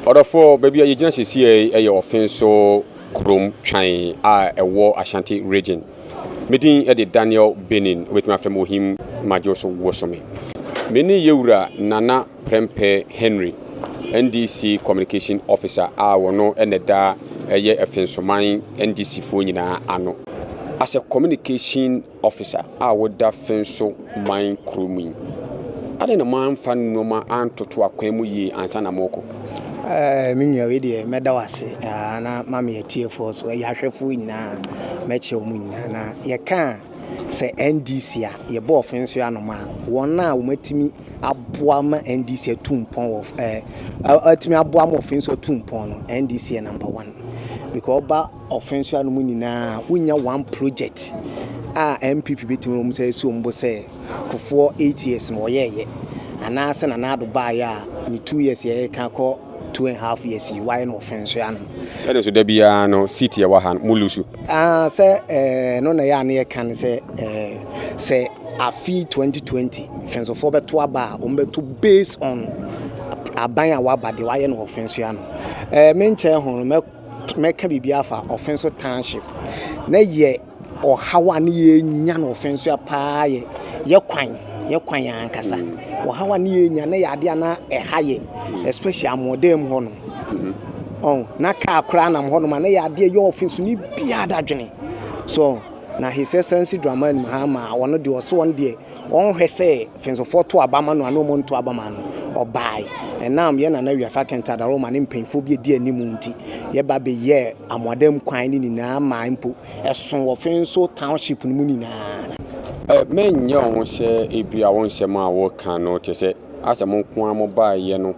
Ɔdɔfoɔ, baabi a yɛgyina sesiei yɛ Ɔfenso kurom twan a ɛwɔ Ashanti Region. Me din de Daniel Benin, wobɛtumi afrɛ me Ohim Madwo so wosome. Me ne Yɛwura Nana Prempeh Henry, NDC Communication Officer a ɔno na ɛda ɛyɛ Fensoman NDCfoɔ nyinaa ano. As a Communication Officer a woda Fenso man kuro mu yi, adɛn na moamfa nnoɔma antoto akwan mu yie ansa na morekɔ? Eh, me nua wei deɛ mɛda wo ase na ma me atiefoɔ so ɛyɛ ahwɛfoɔ nyinaa mɛkyɛ wɔn nyinaa na yɛka a Sɛ NDC a, yɛbɔɔ fɛnso anom a, wɔn a wɔatumi aboa ma NDC atu mpɔn wɔ ɛɛ atumi aboa ma ɔfɛnso atu mpɔn no, NDC yɛ number one. Because ɔba ɔfɛnso anom nyinaa, wonya one project a NPP bɛtumi wɔn sɛ esi wɔn bo sɛ Kufuor eight years no wɔyɛɛyɛ anaasɛ Nana Addo baeɛ a ne two years yɛreka kɔ Two and half years yi wayɛ no ɔfɛn so ya no. Ɛne so da biara no seat yɛ wɔ ha mo lusu. Ah sɛ eh, no na yɛ a ne yɛ ka ne sɛ eh, sɛ afi 2020 fɛnsofoɔ bɛto aba a wɔn bɛto based on aban a waba deɛ wayɛ no ɔfɛn so ya no. Eh, menkyɛn ho no mɛ mɛka biribi afa ɔfɛn so township na yɛ. Ɔhaw a ne yɛrenya no ɔfã nso a paa yɛ yɛn kwan, yɛn kwan yɛn ankasa. Ɔhaw a ne yɛrenya no yɛ adeɛ a na ɛha yɛn, especially amoɔdan mu hɔ no. Ɔn, na kaa koraa nam hɔ nom a na yɛ adeɛ yɛ ɔfã nso ne biara da dwene. So, na His Excellency Dramani Mahama, ɔno deɛ ɔso ɔno deɛ Ɔnhwɛ sɛ Fensofɔɔ to aba ma no anaa ɔmo nto aba ma no, ɔbaae. Ɛnam yɛn Nana Wiafa Kenta Daroma ne mpanyinfoɔ bi a edi anim nti, yɛba beyɛɛ Amoadam kwan no nyinaa maa mpo ɛso wɔ Fenso Township no mu nyinaa. Me nyɛ ɔho sɛ ebia wo nsɛm a wo ka no te sɛ asɛ mo nko ara mo baa yɛ no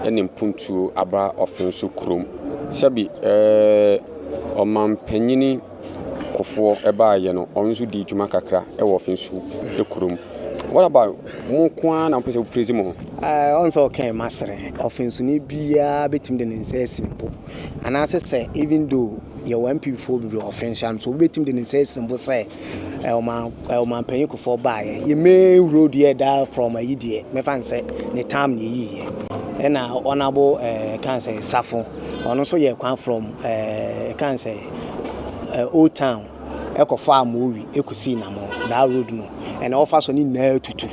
ne mpuntuo aba ɔfenso kurom. Sɛbi ɛɛ Ɔmanpanyini Kofoɔ baeɛ no ɔno nso dii dwuma kakra wɔ Finsu kurom. What about mo nko ara na wopɛ sɛ woprezi mo ho? Ɛɛ ɔn sɛ ɔkɛn masere ɔfinsuni biara betumi de ne nsa asi ne bo anaasɛ sɛ even though yɛwɔ NPP foɔ bebree wɔ Finsu ano so wobetumi de ne nsa asi ne bo sɛ ɛɛ ɔman ɛɛ ɔmanpanyin kofoɔ baeɛ yɛ main road yɛ daa from ayi deɛ mɛfa n sɛ ne tam na eyi yɛ ɛna ɔnabo ɛɛ kan sɛ safo ɔno nso yɛ kwan from ɛɛ kan sɛ. ɛɛ Old Town ɛkɔ faa Mowi ɛkɔsii Nammo, daa road no ɛna wɔfa so no nyinaa atutu.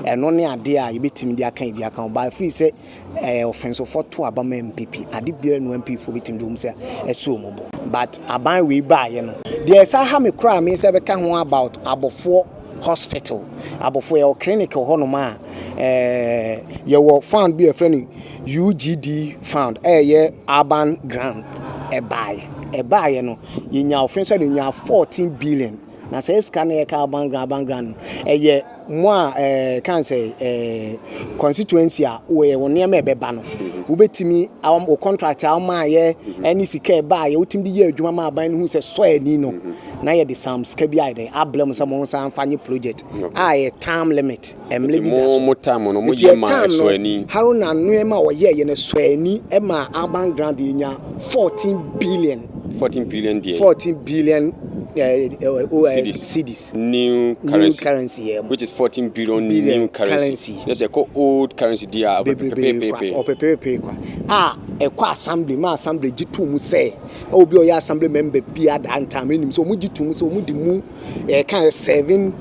Ɛno ne adeɛ a yɛbɛtumi de aka ebi aka ho baa firi sɛ ɛɛ ɔfɛnsɔfoɔ to aba ma MPP ade biara nu MPP foɔ bɛtumi de wɔn sɛ ɛsɛ wɔn bo but aban wei baayɛ no deɛ ɛsa ha me koraa me sɛ bɛka ho about abɔfoɔ hospital abɔfoɔ yɛwɔ clinic wɔ hɔnom a ɛɛ yɛwɔ fund bi a yɛfrɛ no UGD fund a ɛyɛ urban grant ɛbaeɛ ɛbaeɛ no yɛnya ɔfɛn sɛ no nya fourteen billion na sɛ sika no yɛka urban grant urban grant no ɛyɛ mo a ɛɛ kan sɛ ɛɛ constituency a wɔyɛ wɔn nneɛma ɛbɛba no wobɛtumi awɔn wɔ contract a wɔn a yɛ ɛne sika ɛbaeɛ wotumi de yɛ adwuma ma aban no ho sɛ sɔ ani no na yɛde sam sika bi ayɛ dɛ abla mu sɛ mo nsa nfa nye project a ɛyɛ time limit. mmerɛ bi da so. Nti ɛtam no, Haruna nneɛma a ɔyɛ yɛ no sɔɔ ani ma Urban Grant deɛ nya 14 billion. 14 billion deɛ. 14 billion cedis. New currency. New currency yɛ. Which is 14 billion, billion new currency. Yes, ɛkɔ old currency deɛ a ɔpepepepe. Ɔpepepepe kwa. A ɛkɔ assembly ma assembly gye to mu sɛ obi ɔyɛ assembly member bi adaa ntam ɛnim sɛ wɔn gye to mu sɛ wɔn di mu. yɛka sɛ seven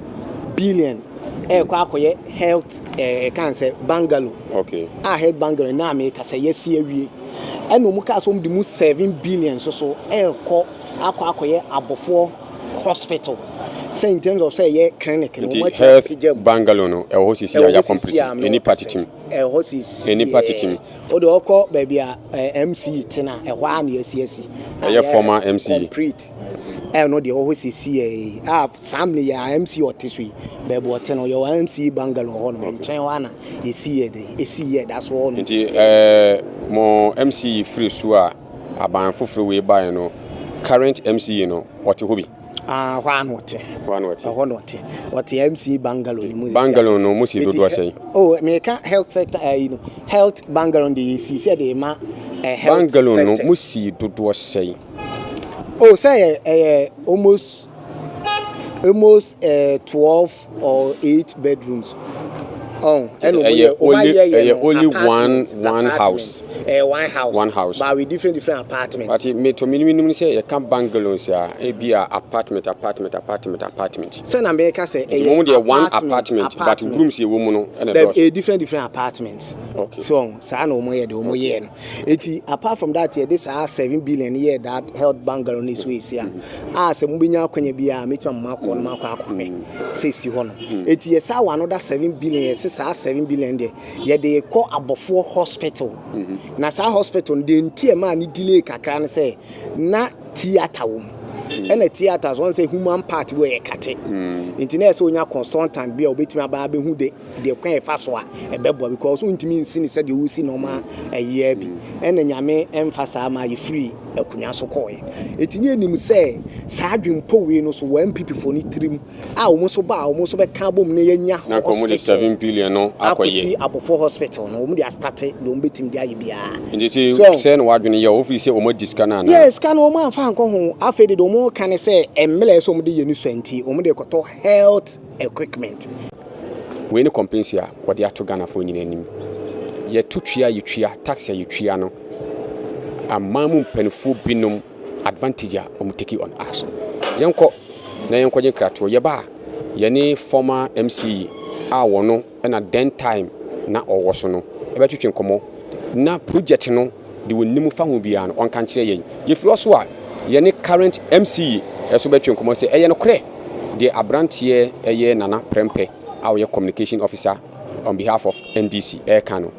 billion ɛkɔ akɔyɛ health ɛka eh, sɛ bungalow okay. a health bungalow na meka sɛ yɛsi awie ɛna ɔmu kaa sɛ ɔmu de mu seven billion so so ɛkɔ akɔ akɔyɛ abɔfoɔ hospital sɛ in terms of sɛ ɛyɛ clinic no wɔn atwa apagya mu bangalo no ɛwɔ hɔ sisi a yɛ complete nnipa titim ɛwɔ hɔ sisi nnipa titim o de ɔkɔ baabi a mc tena ɛhɔ a na yɛsi asi ɛyɛ former mc ɛyɛ no deɛ ɔhɔ sisi yɛ a saa mmerɛ yɛ amc ɔte so yi baabi ɔte no yɛwɔ amc bangalore hɔ no nkyɛn hɔ ana yɛsi yɛ de ɛsi yɛ da so hɔ no nti ɛɛ mo mc firi so a aban foforɔ wei baeɛ no current mc no ɔte hɔ bi ah hɔ ano ɔte hɔ ano ɔte hɔ no ɔte ɔte mc bangalore no mu bangalore no mo si dodoɔ sɛn oh meka health sector ayi no health bangalore de yɛsi sɛ de ma eh, health bangalore no mo si dodoɔ sɛn Oh sɛ yɛ ɛyɛ almost almost ɛɛ eh, twelve or eight bedrooms. Oh, ɛna ɔmo yɛ ɔmo ayɛ yɛ no only one one house. Ɛɛ eh, one house. One house. But with different different apartments. But me to mi ni mi nim sɛ yɛ ka bungalows a ebi a apartment apartment apartment apartment. Sɛ na mɛ ka sɛ ɛyɛ apartment. Mo deɛ one apartment but rooms yɛ wɔ mu no ɛna dɔɔso. Ɛɛ different different apartments. Okay. So saa na ɔmo yɛ de ɔmo yɛ no. Eti apart from that yɛde saa seven billion no yɛɛ that health bungalow no so esi a a sɛ mo benya akwanya bi a metumi ama akɔ no ma akɔ akɔhwɛ sɛ esi hɔ no eti yɛ saa wɔ ano da seven billion yɛsi saa seven billion deɛ yɛde kɔ abɔfoɔ hospital mm-hmm. na saa hospital no deɛ nti ɛmaa ne delay kakra no sɛ na theatre wɔ mu mm-hmm. ɛna theatres wɔn sɛ human part bi yɛ kate mm-hmm. nti na ɛsɛ onya consultant bi a obetumi aba abɛhu the deɛ kwan a ɛfa so a ɛbɛboa because wontumi nsi no sɛdeɛ wosi nɔɔma ɛyea bi ɛna nyame ɛmfa saa ma yɛfiri akonnwa so kɔɔɛ ɛti ne anim sɛ saa adwempɔ wei no so wɔ MPP fo no tirim a wɔn nso ba a wɔn nso bɛka abom na yɛnya hospital akɔsi abɔfo hospital no wɔn de astate deɛ wɔn bɛtumi de ayɛ biara sɛ na wadwene yɛ wɔfiri sɛ wɔn adi sika no anaa yɛ sika no wɔn amfa nkɔ ho afei de wɔn ka ne sɛ mmerɛ sɛ wɔn de yɛ ne sua nti wɔn de kɔtɔ health equipment. Wei ne kɔmpensi a wɔde ato Ghanafoɔ nyinaa anim. Yɛto tua a yɛtua, tax a yɛtua no, aman mu mpaninfoɔ binom advantage a wɔn take on us. Yɛnkɔ na yɛnkɔgye nkratoɔ. Yɛba a, yɛne former MCE a wɔn na den time na ɔwɔ so no ɛbɛtwetwe nkɔmmɔ na project no de ɔnim fa ho biara no ɔnka nkyerɛ yɛn. Yɛfiri hɔ so a yɛne current MC nso bɛtwe nkɔmmɔ sɛ ɛyɛ nokorɛ deɛ abranteɛ ɛyɛ Nana Prɛmpɛ a ɔyɛ Communication Officer on behalf of NDC ɛreka no.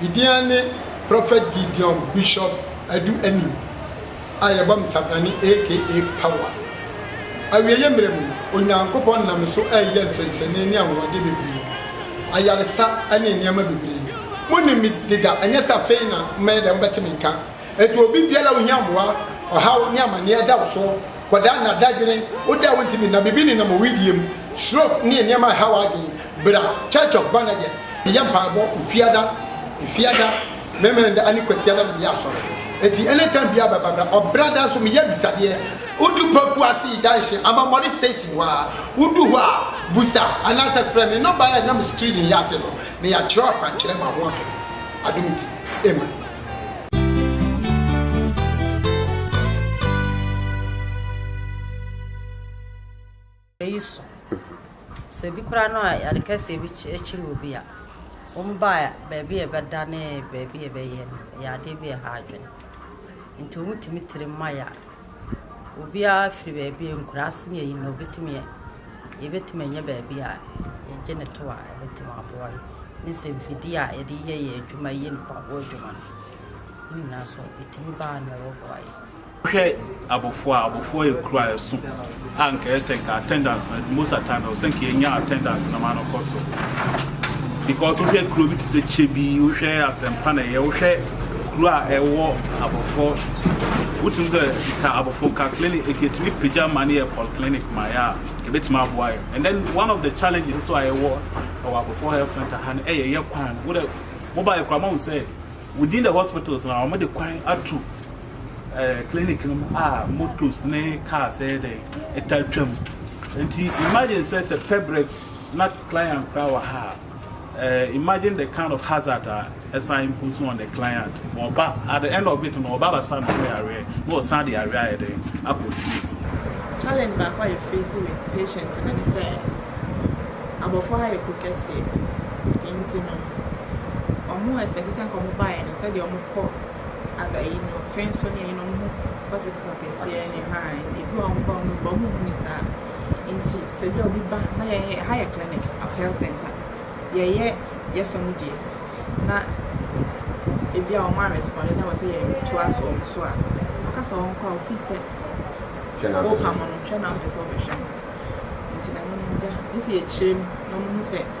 Gidean ne Prophet Gideon Bishop Adu Anim a yɛbɔ me Sabrane aka Power. Awieeɛ mmerɛ mu, Onyankopɔn nam me so reyɛ nsɛnkyerɛnne ne anwanwadeɛ bebree, ayaresa ne nneɛma bebree. Monim me deda, ɛnyɛ sɛ afei na mobɛyɛ dɛn mobɛte me nka. Enti obi biara a ohia mmoa, ɔhaw ne amaneɛ da wo so. kɔda nna, dadwene, wo da a wontumi nna, biribi nenam owu die mu, stroke ne nneɛma a ɛhaw adwene, bra Church of Bandages, yɛ mpaebɔ, Ofiada, Efiada, Memeneda ane Kwasiada na meyɛ asɔre. Enti anytime biara bɛ ba bra. Ɔbra da nso meyɛ abisadeɛ. Wodu Poku Ase Junction, Amammɔre Station hɔ a, wodu hɔ a, busa anaasɛ frɛ me. Nɔmba a ɛnam screen yi ase no na yɛatwerɛ akwankyerɛ ma ho ato. Adom nti, amen. yi so. Sɛ bi koraa no a ade kɛseɛ bi kyere wɔ bi a, wɔn baa baabi a ɛbɛda ne baabi a ɛbɛyɛ no, ɛyɛ adeɛ bi a ɛha adwene. Nti wɔn tumi tiri mma yɛ a. Obiara firi baabi, nkuraase ne ayi na ɔbɛtumi ɛ, yɛbɛtumi anya baabi a yɛgye no to a ɛbɛtumi aboa yɛn. Ne sɛ mfidie a yɛde yɛ yɛn adwuma yi, yɛ mpaboa adwuma no, ne nyinaa nso ɛtumi ba a na ɛbɛboa yɛn. Hwɛ abɔfoɔ a, abɔfoɔ yɛ kuro a ɛso a nka ɛyɛ sɛ nka attendance na most of time ɛwɔ sɛ nka yɛnya attendance na ma no kɔ so because wohwɛ kuro bi te sɛ kyɛ bi wohwɛ asɛmpa na ɛyɛ wohwɛ kuro a ɛwɔ abɔfoɔ wotumi sɛ nka abɔfoɔ nka clinic ɛkɛtumi pagya ma no yɛ polyclinic ma yɛ a ɛbɛtumi aboa yɛ and then one of the challenges nso a ɛwɔ ɛwɔ abɔfoɔ health center ha no ɛyɛ yɛ kwan wodɛ mobile kora ma wo sɛ within the hospitals na wɔde kwan ato eh, clinic no mu a motos ne cars ɛyɛ dɛ ɛtaa twam nti imagine sɛ sɛ pɛbrɛ na client koraa wɔ ha eh, imagine the kind of hazard a ɛsan impose on the client wɔba at the end of it no wɔba basa no yɛ areɛ na wɔsan de areɛ ayɛ dɛ akɔ fie challenge baako a yɛfeesi with patient no ne sɛ abɔfo ha yɛ kuro kɛseɛ nti no ɔmo ɛspɛsi sɛ nkɔmo baeɛ no sɛdeɛ ɔmo kɔ Aga yi no hwɛ nso ne ɛyi no ɔmo hospital akɛseɛ ne ha a ebi wɔ ɔmo ba ɔmo ba ɔmo hu ne saa nti sɛ bi a obi ba na yɛn yɛ ha yɛ clinic or health center yɛyɛ yɛfa mu deɛ na ebi a ɔmo arespond na wɔsɛ yɛn toa so ɔmo so a ɔka sɛ ɔmo kɔ a ofi sɛ ɔpam no hwɛ na ɔmpɛ sɛ ɔbɛhwɛ no nti na ɛno no da ne sɛ yɛkyerɛ mu na ɔmo hu sɛ.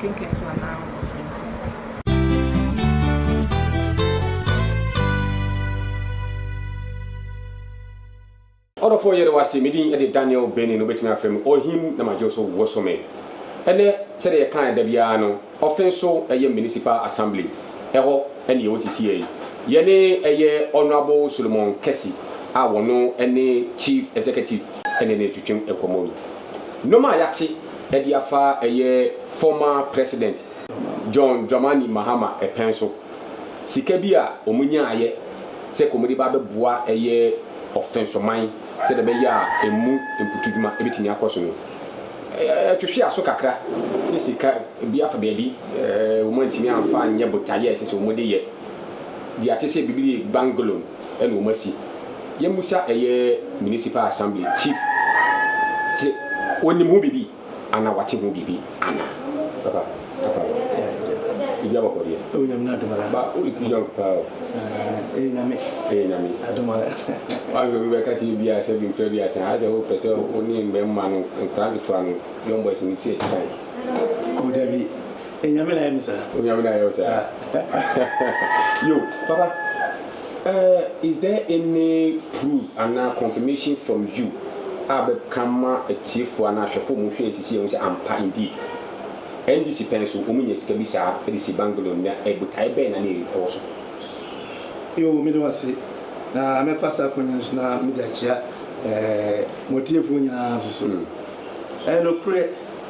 Kenkan so anaa wosua so? Ɔdɔfoɔ yɛde wase me din de Daniel Benin no bɛtumi afrɛ me ɔhim na magye so wosome ɛnɛ sɛdeɛ yɛka ɛda biara no ɔfe nso ɛyɛ municipal assembly ɛhɔ ɛne yɛwɔ sisiɛ yi yɛne ɛyɛ honorable Solomon Kɛsi a wɔno ɛne chief executive ɛne ne twetwe nkɔmɔ yi nom a yɛate de afa ɛyɛ former president John Dramani Mahama pɛn so. Sika bi a wɔn nyaayɛ sɛ ka wɔn de ba abɛboa ɛyɛ ɔfɛnsoman sɛdeɛ ɛbɛyɛ a ɛmu mputudwuma bɛtumi akɔ so no ɛtwetwe aso kakra sɛ sika bi afa baabi wɔn antumi amfa anyɛ botaeɛ a ɛsɛ sɛ wɔn de yɛ deɛ ate sɛ biribi bangolom. na wɔn asi. Yɛn musa ɛyɛ municipal assembly chief se onim ho biribi ana wate ho biribi ana. Papa akwa no biribi abɔkɔ deɛ. Ɛwɔ nyame na adom ara. Ba o yɛ young paa o. Ɛyɛ nyame. Ɛyɛ nyame. Adom ara. Wahwɛ obi bɛka sɛ ebi a sɛ bi mfrɛ bi asan asɛ o pɛ sɛ o ne mbɛmma no nkora nketewa no young boys no ti asisan. O dabi Enyame na ayɛ me saa. Onyame na ayɛ wo saa. Saa. Yo, papa, eh, is there any proof anaa confirmation from you a wobɛka ma atiefo anaa ahwɛfo a wɔhwɛ yɛn sisi yi ahu sɛ ampa indeed NDC pɛn so wɔnya sika bi saa de si bungalow na eh, botae bɛn na na ɛwɔ so? Yo, meda wo ase. Na mɛfa saa kwan yi nso na mede akyia, eh, mo atiefo nyinaa nso so. Ɛyɛ nokorɛ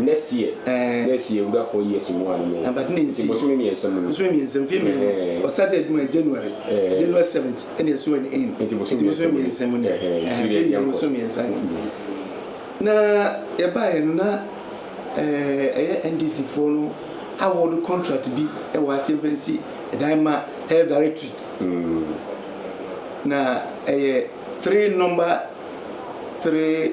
Nɛseɛ, nɛseɛ ewura four years mu ano no nti bosome mmiɛnsa mu no. Bosome mmiɛnsa mu, mfeɛ mmienu. Ɔ started adwuma yɛ January, January seventh ɛna ɛso ɛne in nti bosome mmiɛnsa mu ni. Mfeɛ mmienu bosome mmiɛnsa ni. Na yɛbaeɛ no na ɛyɛ NDC foɔ no award contract bi wɔ ase mfa nsi dan ma health directorate. Na ɛyɛ three number three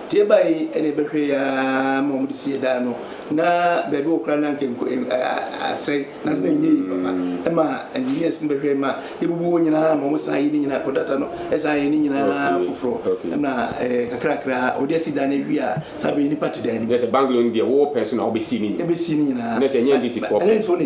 Deɛ ɛbaeɛ yi na ɛbɛhwɛeɛ ara ma wɔde sii ɛdan no, na baabi a wɔkora no anka nko, ɛm, ɛ, asɛe, nanso na ɛnyɛ yie papa. Ɛmaa engineers no bɛhwɛeɛ ma yɛbubuu hɔ nyinaa ma wɔsan yɛɛ ne nyinaa, contractor no san yɛɛ ne nyinaa Okay, foforɔ, okay. ɛna ɛɛ, kakrakra a wɔde asi dan no awie a, saa berɛ yi nnipa te dan no mu. Kyerɛ sɛ, bungalow no deɛ wowɔ pɛn so na wobɛsii ne nyinaa? Yɛbɛsii ne nyinaa. Na sɛ ɛnyɛ NDC foɔ pɛ? NDC foɔ no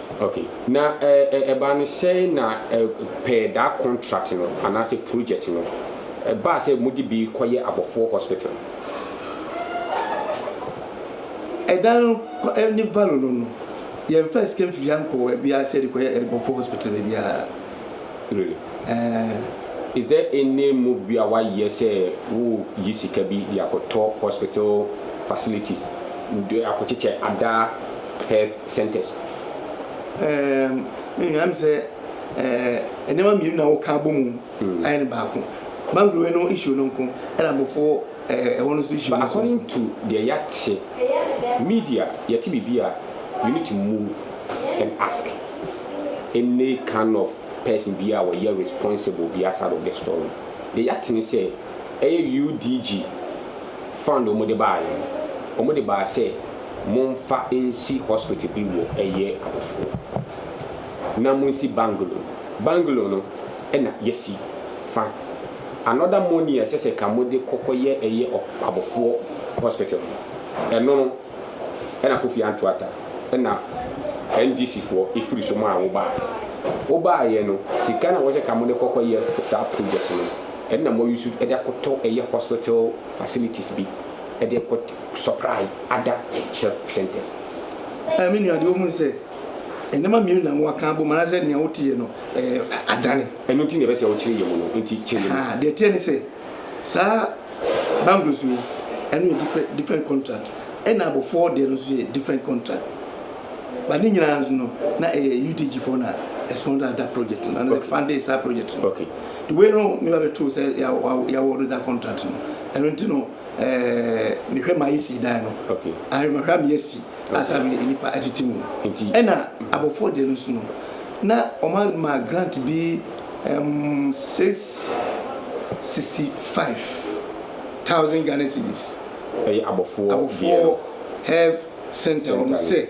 Ok, na ɛbaa no sɛn na per that contract no anaasɛ project no, ɛbaa sɛ mode bi kɔyɛ Abɔfoɔ Hospital? Ɛdan no ne value no no, yɛmfaa sika mfifia nkɔɔ baabiara sɛ yɛde kɔyɛ Abɔfoɔ Hospital baabiara. Really? Ɛɛ. Is there any move bi a woayɛ sɛ woreyi sika bi de akɔtɔ hospital facilities, de akɔkyekyɛ Ada Health centres. Ɛɛm me nua mi sɛ ɛɛ nneɛma mmienu na wɔka abɔ mu ayɛ no baako. Mangrove no issue no nko ɛna abɔfoɔ ɛɛ ɛhɔ no nso issue no nko. But according to deɛ yɛate media yɛte biribi a you need to move and ask any kind of person biara a ɔyɛ responsible biara side of the story. Deɛ yɛate ne sɛ ɛyɛ UDG fund a wɔde baeɛ no wɔde baa sɛ. Momfa nsi hospital bi wɔ ɛyɛ abɔfo na monsi bangalow bangalow no na yɛasi fa another money a ɛsɛ sɛ ka mode kɔ kɔyɛ ɛyɛ abɔfoɔ hospital no ɛno no na Fofie Anto Atta na NDC foɔ ɛfiri so maa wo baa wo baayɛ no sika na wɔsɛ ka mode kɔ kɔyɛ saa project no ɛno na moayusu de akɔtɔ ɛyɛ hospital facilities bi de kɔ Shoprite, Ada Health Centres. Ɛɛ me nua, deɛ wohunu sɛ nneɛma mmienu na wɔaka abom anaasɛ nea woteɛ no ɛɛ adane? Ɛno nti na ɛbɛ sɛ wokyere yam no, enti kyere yam. Ahaa, deɛ ɛteɛ ne sɛ, saa bangles wei, ɛno yɛ dipɛ, different contract, ɛna abɔfoɔ deɛ no nso yɛ different contract. But ne nyinaa nso no, na ɛyɛ UDG foɔ na ɛsponsor ada project no, ɛna funding saa project no. Okay. The way no, ne ba bɛtoo sɛ yɛawɔdo da contract no, ɛno nti no, ɛɛ mehwɛ maa yɛsi dan no ahwɛmahwɛ a meyɛsi asa me nnipa atete mu ɛna abɔfoɔ deɛ no nso no na ɔma ma grant bi um, six sixty five thousand Ghana cedis ɛyɛ abɔfoɔ abɔfoɔ health center wɔn sɛ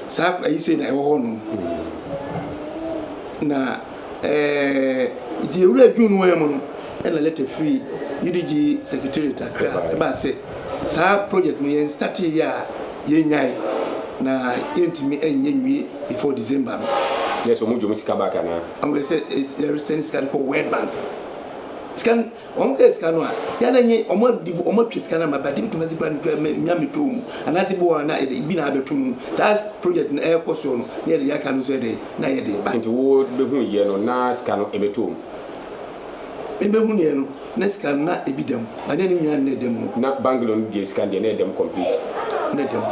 Saa kwa yi sei na ɛwɔ hɔ nom. Na ɛɛ nti ewura June wɔn mu no ɛna lɛtɛ firi UDG secretariat akra ɛbaa sɛ saa project no yɛn start yɛ a yɛn nyae na yɛntumi ɛnyɛ nwie before December no. Yɛ sɛ ɔmo gye ɔmo sika back anaa? Ɔmo bɛ sɛ yɛre sɛn sika no kɔ World Bank sika no. Wɔn kɛ sika no a, yɛ na nye wɔn adi wɔn atwa sika no ama ba dibi dwumadzi ba no kura mɛ mia mɛ tɔɔ mu anaadze bi wɔ hɔ na yɛ dɛ bi na abɛ to mu taas projɛt no ɛɛkɔ soɔ no na yɛ de yɛ aka no nso yɛ dɛ na yɛ de ba. Nti wo bɛ hun yɛ no na sika no ɛbɛ tɔɔ mu. Me bɛ hun yɛ no na sika no na ɛbi dɛm ba nyɛ ne nyinaa na ɛdɛm no. Na bangalo no deɛ sika no deɛ na ɛdɛm complete. Na ɛdɛm.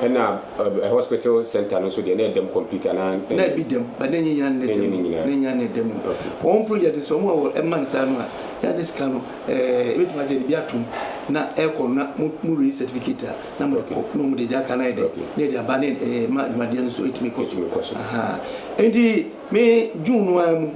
Ɛna. Ɛ hospital centre no nso deɛ na ɛdam complete anaa? Na ebi dam but na ɛnyɛ nyinaa na ɛdam o, na ɛnyɛ nyinaa na ɛdam o. Wɔn ho project no sɛ wɔn a wɔ ɛma no saa no a, yɛ a na sika no ɛɛ ebetumi asɛ yɛde bi ato mu na ɛkɔ no na mo mo release certificate a na mode kɔ na wɔde deɛ aka no ayɛ dɛ na yɛde aba na ɛɛ ɛma adwumadeɛ no nso etumi kɔ so. Ahaa enti me June no ara mu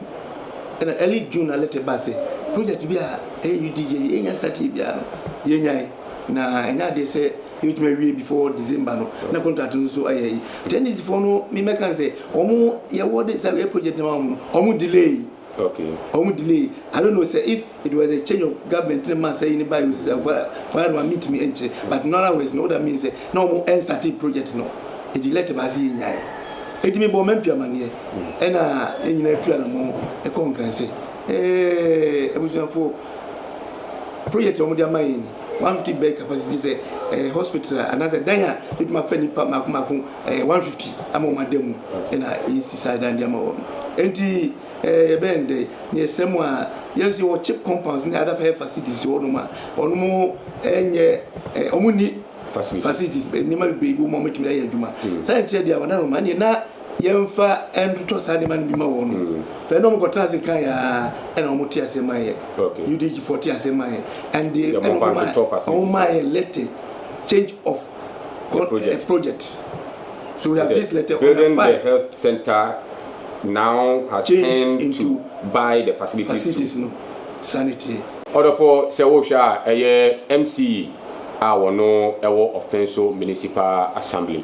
ɛna early June na letter baa sɛ project bi a ɛyɛ UDJ bi yɛnya start yɛ biara no yɛnyae na ɛnyɛ adeɛ sɛ Yɛbɛtumi awie before December no na contract no nso ayɛ yi. Tennis foɔ no me mɛka n sɛ ɔmo yɛwɔ de sɛ yɛ project no ma ɔmo no ɔmo delay. Okay. Ɔmo delay. I don't know sɛ if it was a change of government ne ma sɛ yi ne ba yi o sɛ fire fire no ma mi ntumi nkyerɛ but no other words no woda mean sɛ na ɔmo ɛnstate project no edi let baasi yɛ nyae. Eti mi bɔ mɛmpi amaneɛ ɛna yɛn nyinaa tu anamɔ ɛkɔ nkranse ɛɛ abusuafoɔ project a ɔmo de ama yɛn ni. one fifty bed capacity sɛ ɛɛ eh, hospital anaasɛ dan a ebitumi afɛ nipa mako mako ɛɛ eh, one fifty ama wɔn ada mu ɛna esi saa dan de ama wɔn nti ɛɛ eh, yɛbɛn dɛ ne ɛsɛ mu a yɛn nso wɔ chip compounds ne other fire facilities wɔ nom a wɔn ɛnyɛ ɛɛ wɔn ni facilities nneɛma bebree bi wɔn a wɔtumi ayɛ adwuma hmm. saa nkyɛn deɛ wɔn anam ma ne na. yɛmfa ntotɔ saa nneɛma no bi ma wɔn no fɛ na wɔn kɔtena ase kan yɛ aa ɛna wɔn te ase ma yɛ udg fo te ase ma yɛ and they ɛna wɔn ma wɔn ma yɛ letter change of con project. Uh, project so we have this letter on the file the health center now has changed into to buy the facilities, facilities to no sanity ɔdɔfo sɛ wohwɛ a ɛyɛ mce a wɔn ɛwɔ ɔfɛn so municipal assembly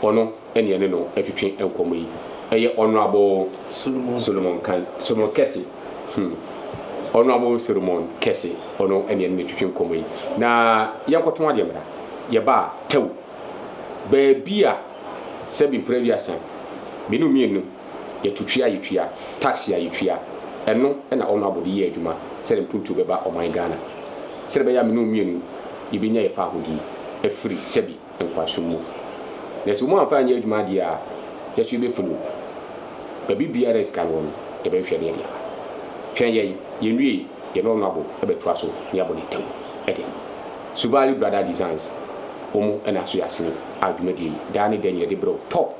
ɔno ɛne ɛne no ɛtwetwe nkɔmmɔ yi. Ɛyɛ Honourable Solomon Kan, Solomon Kɛse, hmm, Honourable Solomon Kɛse, ɔno ɛne ɛne no ɛtwetwe nkɔmmɔ yi. Na yɛnkɔtɔn adeɛ mmra. Yɛba a, tɛw, baabi a sɛbi mpere aduasa, mmienu mmienu, yɛto tua a yɛtua, tax a yɛtua, ɛno na Honourable de yɛ adwuma sɛdeɛ mpuntuo bɛba ɔman Ghana. Sɛdeɛ ɛbɛyɛ a mmienu mmienu yɛbɛnya yɛn fahodie afiri sɛbi. nkɔahyɛ mu. Na sɛ wɔammfa annyɛ adwuma deɛ a, yɛso yɛbɛfunu baabi biara a sika no wɔ no, yɛbɛhwehwɛ deɛ ɛde aba. Twɛn yɛn, yɛnwiei, yɛne wɔn abo bɛtoa so na yɛabɔ dawuro de ama. Suvali Brada Designs, wɔn na aso yɛ asene a dwumadie yi daa ne da nyina de brɛ wo. Top!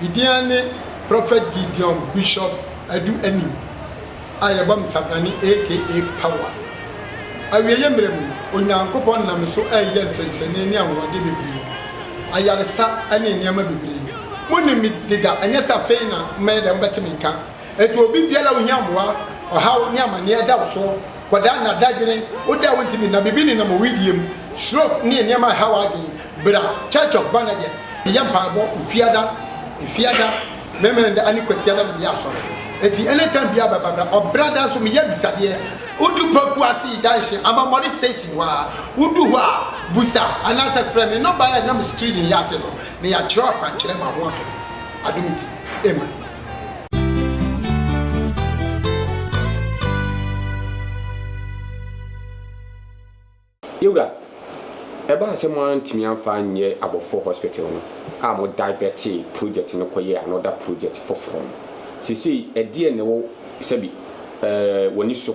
Me din ara ne Prophet Gideon Bishop Adu Anim a yɛbɔ me Sabrane aka Power. Awieeɛ mmerɛ mu, Onyankopɔn nam me so reyɛ nsɛnkyerɛnne ne anwanwadeɛ bebree, ayaresa ne nneɛma bebree. Monim me deda, ɛnyɛ sɛ afei na mɛyɛ dɛn mobɛte me nka. Enti obi biara a ohia mmoa, ɔhaw ne amaneɛ da wo so, kɔdaa na dadwene, wo da a wontumi nna, biribi nenam wo wedeɛ mu, stroke ne nneɛma a ɛha w'adwene, Ber a Church of Barnagers yɛ mpaabɔ Ofiada, Efiada, Memeneda ne Kwasiada no meyɛ asɔr. Ntsi any time biara bɛba bra. Ɔbrada so meyɛ abisadeɛ. Wodu pakuo ase yi danhye Amamɔre station hɔ a, wodu hɔ a busa anaa sɛ frɛ me nɔmba a ɛnam screen yi ase no na yɛakyerɛw akwankyerɛ ma ho ato hɔ. Adom ntsi. Amen. Yewura, ɛbaa sɛ mo antumi amfa anyɛ Abɔfoɔ Hospital no a mo divɛtee project no kɔyɛɛ another project foforɔ no. Seesei ɛdeɛn na ɛwɔ sɛbi ɛɛ w'ani so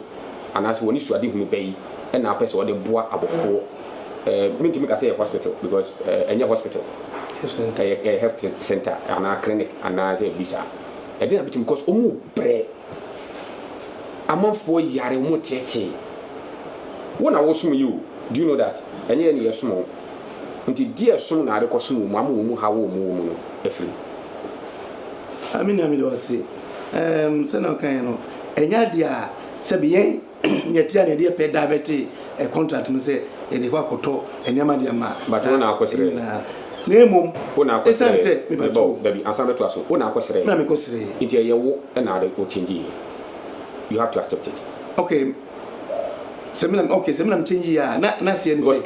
anaasɛ w'ani suadehunu bɛyi na apɛ sɛ wɔde boa abɔfoɔ ɛɛ mentumi nka sɛ ɛyɛ hospital because ɛɛ ɛnyɛ hospital ɛyɛ ɛyɛ health centre anaa clinic anaasɛ biribi saa ɛdeɛn na bɛtumi because wɔn mu brɛ amanfoɔ yare wɔn reteetee wo na wosom yi o do you know that ɛnyɛ yɛ ne yɛ som wɔn nti deɛ som na ade kɔ som wɔn ama wɔn haw wɔn wɔ mu no afiri mu. Ah me nua mede wo ase, ɛɛm sɛnea wokaeɛ no ɛnyɛ adeɛ a sɛbe yɛn. Yɛtea na yɛde yɛ pɛ daavɛtee contract no sɛ yɛde kɔ akɔtɔ nneɛma de ama saa nyinaa. Na mmom, esiane sɛ, mepatwoo, na mekɔsrɛɛ. Ok, sɛ me na, ok, sɛ me na mekyɛnge yie a, na, na aseɛ ne sɛ.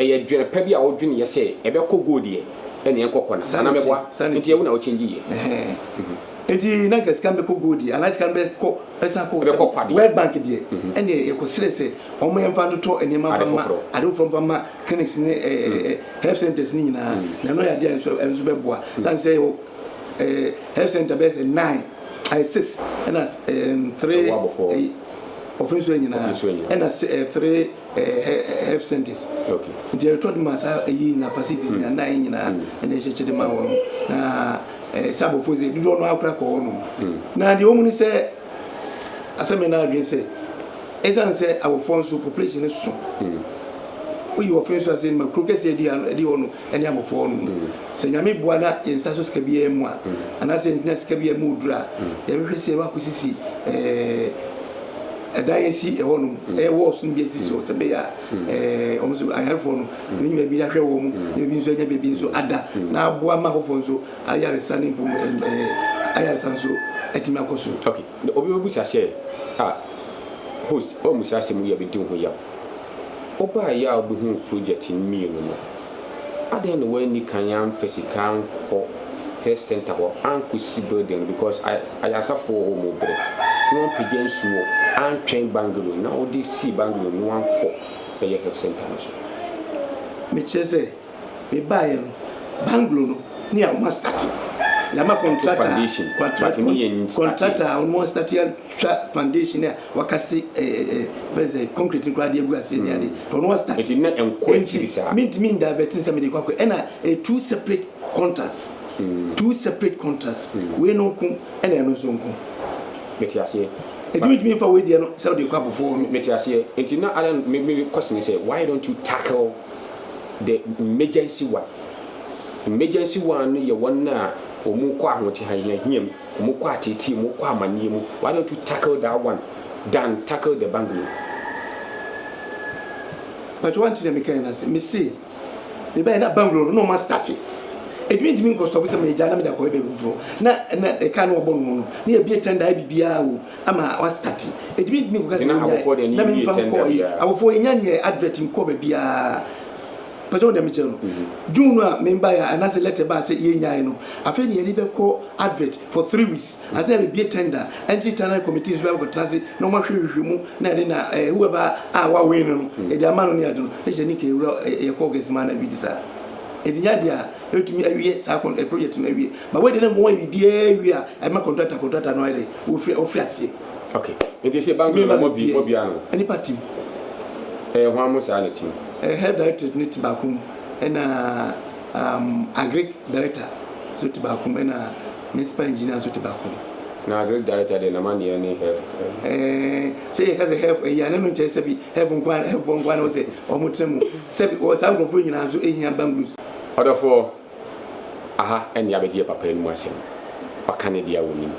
Saa na ɛteɛ, saa na ɛteɛ. Ɛhɛɛ. Eti na nka sika no bɛkɔ gold yɛ anaa sika no bɛkɔ ɛsan kɔ sɛ world bank deɛ ɛne yɛkɔsrɛ sɛ wɔn yɛmfa ntotɔ nneɛma mfa ma ade foforɔ mfa ma clinics ne health centers ne nyinaa na ɛno yɛ adeɛ a nso nso bɛboa san sɛ yɛwɔ health center bɛyɛ sɛ nine ɛyɛ six ɛna three ɔfin so nyinaa ɛna three health centers nti yɛretɔ de ma saa ɛyi na facilities na nine nyinaa ɛna ɛhyɛ kyɛ de ma wɔn na Eh, sɛ abɔfoɔ sɛ dodoɔ no ara kora kɔ hɔ nom. Na deɛ wɔn ne sɛ, asɛm yɛ n'adwene sɛ, ɛsiane sɛ abɔfoɔ nso population no so, woyi wɔfe nso ase ma kuro kɛseɛ di ano ɛdi hɔ no ɛne abɔfoɔ no no. Sɛ nyame boa na yɛn nsa so sika biara mu a, anaasɛ yɛn nsa sika biara mu oduro a, yɛbɛhwɛ sɛ yɛbɛ akɔsisi ɛɛ ɛdan asi ɛhɔ nom ɛyɛ wɔɔso no bi asisi hɔ sɛ bɛyɛ a ɛɛ wɔn nso ayarefoɔ no Wotumi nya baabi ahwɛ wɔn, na baabi nso anya baabi nso ada, na aboa ma afoforo nso ayaresa ne mpom ayaresa nso atumi akɔ so. Okay, na obi bɛbusa sɛ, ah, host, ɔmmusa asɛm yi a ɛbɛdi wo ho yaw. Wobaeɛ a wobɛhuu project no mmienu no, adɛn na woanni kan amfa sika ankɔ health centre hɔ ankɔsi building no because ayaresafoɔ wɔ hɔ wɔbrɛ, na wɔampagya nsuo, antwɛn bungalow no a wode sii bungalow no na woankɔ? bɛyɛ health centre no so. Mekyerɛ sɛ mebaeɛ no banglo no ne a wɔn astate yɛ ama contract a contract a wɔn astate atwa foundation a wɔakasete ɛɛ fɛn sɛ concrete no koraa de agu ase ne ade wɔn astate ɛdi na nkɔ akyiri saa mintimi nda bɛtin sɛ mede kɔ akɔ ɛna two separate contracts two separate contracts wei no nko ɛna ɛno nso nko. Mete aseɛ. Enti wotumi mfa wei deɛ no sɛ wode kɔ abɔfoɔ hɔ no. Mete aseɛ. Enti na adan me me kɔsi ne sɛ why don't you tackle the emergency one? Emergency one no yɛ wɔn a wɔn kɔ ahotehiahia mu, wɔn kɔ ateetee mu, wɔn kɔ amaneɛ mu. Why don't you tackle that one than tackle the bungalow? But one thing na me kae na se me se. Mebae na banglo no na ɔma starte. Edwuma ntumi nkɔ stɔp sɛ megyaa na mede akɔyɛ baabi foforɔ. Na na kaa no wɔbɔ no ho no na yɛbie tɛnda ayɛ biribiara o ama wastate. Edwuma ntumi nkɔka sɛ wɔnyae na memfa nkɔɔ yi. Abɔfoɔ yɛnya nyɛɛ advert nkɔɔ baabiara. Pagya wo deɛ mekyerɛ no. June no a mebaeɛ a anaasɛ letter baa sɛ yɛnyae no afei na yɛde bɛkɔ advert for three weeks. I say yɛbɛbie tender entry tunnel committees biara bɛkɔtena ase na wɔn ahwɛ nhwehwɛ mu na yɛde na eh, whoever a wawin no no yɛde ama no ne ade no na hyɛ ne nka ewura eh, yɛ kɔɔ gɛsi maa na bi te saa ɛde nya deɛ a ɛtumi awie saa kɔn eh, project no awie ba wei deɛ na wɔn ayɛ biribiara awie a ɛma contractor contractor no ayɛ dɛ wɔfiri wɔfiri aseɛ ok nti sɛ bank no mo bi mo bi ano nipa tim ɛyɛ eh, hwan mo saa ne tim eh, health director ne ti baako mu ɛna um, agric director so ti baako mu ɛna Ne spa engineer nso te baako. Na agric director deɛ n'amaneɛ ne health ɛɛ. Ɛɛ sɛ yɛka sɛ health ɛyi a na ɛno nkyerɛ sɛbi health nko ara health foɔ nko ara na wɔsɛ wɔn tena mu sɛbi wɔ saa nkurɔfoɔ nyinaa nso ehia bangalows. Ɔdɔfoɔ, aha ɛne yɛabɛgye yɛ papa anim asɛm. Waka ne deɛ a ɔnim.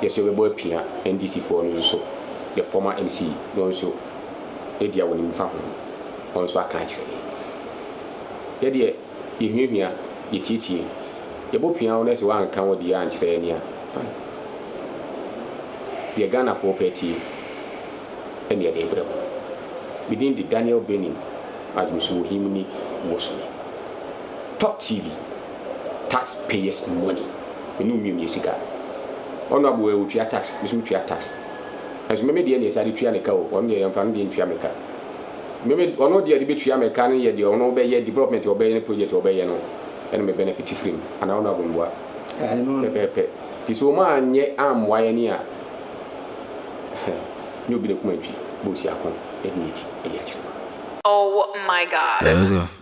Yɛ nso yɛbɛbɔ apia NDC foɔ no nso, yɛ former MC no nso ne deɛ ɔnim fa ho no, ɔno nso aka akyerɛ yɛn. Yɛ deɛ. Yehuahua, yetiatia. Yɛbopia wo na sɛ woanka wo deɛ ankyerɛ yɛn a, fine. Deɛ Ghanafoɔ pɛ atie ɛne yɛde rebrɛ mo. Me din de Daniel Benin Adwumsuwohimni Wosome. Top TV, tax payers money, me ne wo mmienu yɛ sika. Ɔno aboɛ otua tax, me nso metua tax. Nanso me me deɛ ne yɛsan de tua ne ka o, ɔno deɛ yɛmfa no deɛ ntua me ka. Meme ɔno deɛ ɔde bɛtua me ka no yɛ deɛ ɔno bɛyɛ development a ɔbɛyɛ ne project a ɔbɛyɛ no ɛna me benefit firi mu anaa ɔno abomboa pɛpɛɛpɛ nti sɛ ɔma anyɛ ammoa yɛ ne a nyɛ obi na kum antwi bɔ ɔsi ako ɛde ne ti ɛyɛ akyire. Oh my God.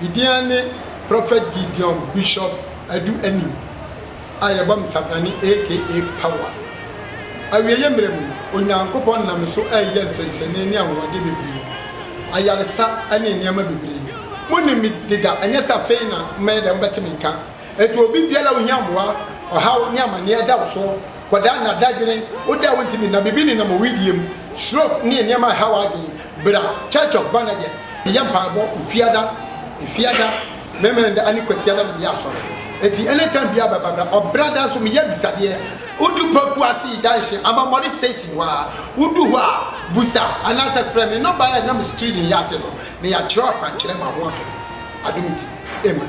Me din ara ne Prophet Gideon Bishop Adu Anim a yɛbɔ me Sabrane aka Power. Awieeɛ mmerɛ mu, Onyankopɔn nam me so reyɛ nsɛnkyerɛnne ne anwanwadeɛ bebree, ayaresa ne nneɛma bebree. Monim me deda, ɛnyɛ sɛ afei na mobɛyɛ dɛn mobɛte me nka. Enti obi biara a ohia mmoa, ɔhaw ne amaneɛ da wo so. Kɔdaa nna dadwene, wo dɛ a wontumi nna, biribi nenam wo wedeɛ mu, stroke ne nneɛma a ɛha w'adwene, bra Church of Bandages bɛyɛ mpaebɔ Ofiada, Efiada, Mɛmɛnɛnda ane Kwasiada na meyɛ asɔre. Enti anytime biara bɛba bra. Ɔbrada nso meyɛ abisadeɛ. Wodu Poku Ase Junction, Amammɔre Station hɔ ara, wodu hɔ a, busa anaasɛ frɛ me nɔba a ɛnam screen yi ase no na yɛatwerɛ akwankyerɛ ma ho ato. Adom TV. Amen.